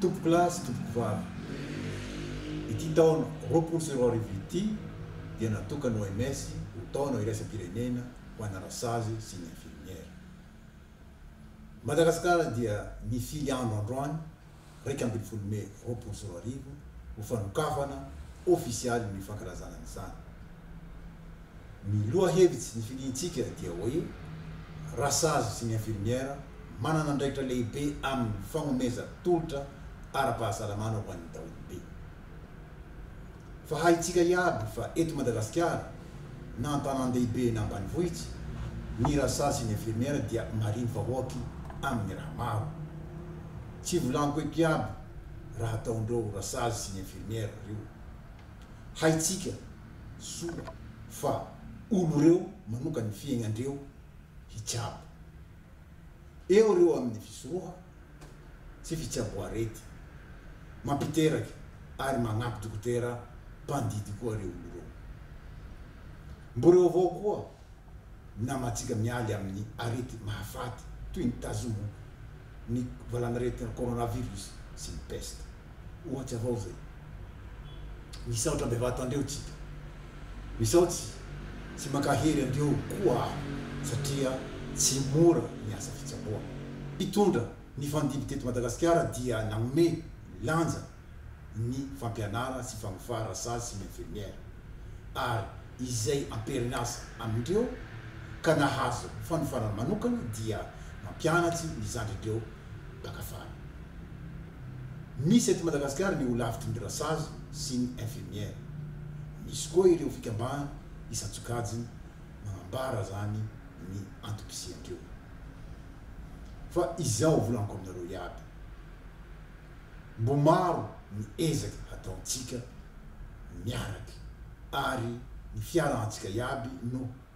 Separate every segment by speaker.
Speaker 1: Tompokolahy sy tompokovavy, ity taona roapolo sy roa arivo ity dia natokan'ny OMS ho taona iraisam-pirenena ho ana rasazy sy ny infirmiera. Madagasikara dia nifily andro androany iraika ambin'ny folo mey roapolo sy roa arivo ho fanokafana ofisialy ny fankalazana an'izany. Ny lohahevitsy nifidintsika dia hoe rasazy sy ny infirmière manana andraikitra lehibe amin'ny fagnomezan-tolotra ara-pahasalamana ho an'ny daholobe. Fa haintsika iaby fa eto Madagasikara, na an-tanàn-dehibe na ambanivohitra, ny rasazy sy ny infirmiera dia marivo vahoaky amin'ny raha maro. Tsy volaniko eto iaby raha ataondreo rasazy sy ny infirmiera reo. Haintsika soa fa olo reo manoka ny fiaignandreo hitsabo. eo ireo amin'ny fisoroha sy fitsaboarety mampiteraka ary magnampy dokotera mpandidy koa reo olo reo. Mbo reo avao koa namantsika mialy amin'ny arety mahafaty toy ny tazomo, ny valan'aretina coronavirus sy ny peste. Ohatry avao zay. Misaotra bevata andreo tsika. Misaotsy tsy mankahery andreo koa aho satria tsy mora ny asa fitsaboana. Mpitondra nifandimby teto Madagasikara dia nanome lanja ny fampianara sy fanofa rasazy sy ny infirmière ary izay amperin'asa amindreo ka nahazo fanofana manokana dia mampianatsy ny zandrindreo mpakafara. Misy eto Madagasikara ny Holavitry ny Dressage sy ny Infirmière. Misy koa ireo fikambahana isan-tsokajiny manambara zany ny antom-pisian-dreo. Fa izao volaniko aminareo iaby, mbo maro ny ezaka hataon-tsika miaraky ary ny fiarahan-tsika iaby no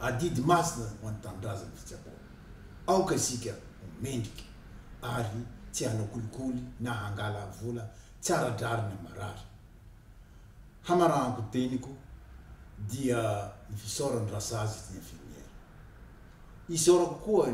Speaker 1: Adidy masina ho an'ny tanindrazan'ny fitsaboana. Aoka isika ho mendrika ary tsy hanao kolikoly na hangala vola tsy ara-drariny amin'ny marary. Hamarahan-ko teniko dia ny fisaorany rasazy ity infirmière. Isaorako koa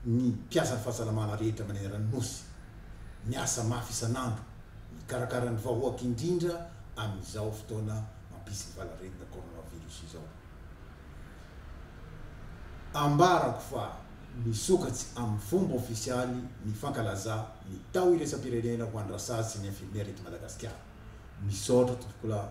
Speaker 1: ny mpiasan'ny fahasalamana rehetra manerana ny Nosy, miasa mafy isan'andro mikarakara ny vahoaka indrindra amin'izao fotoana mampisy ny valanaretina coronavirus izao. Ambarako fa misokatsy amin'ny fomba ofisialy ny fankalazà ny tao iraisampirenena ho an'ny rasazy sy ny infirmiera eto Madagasikara. Misaotra tompokolahy.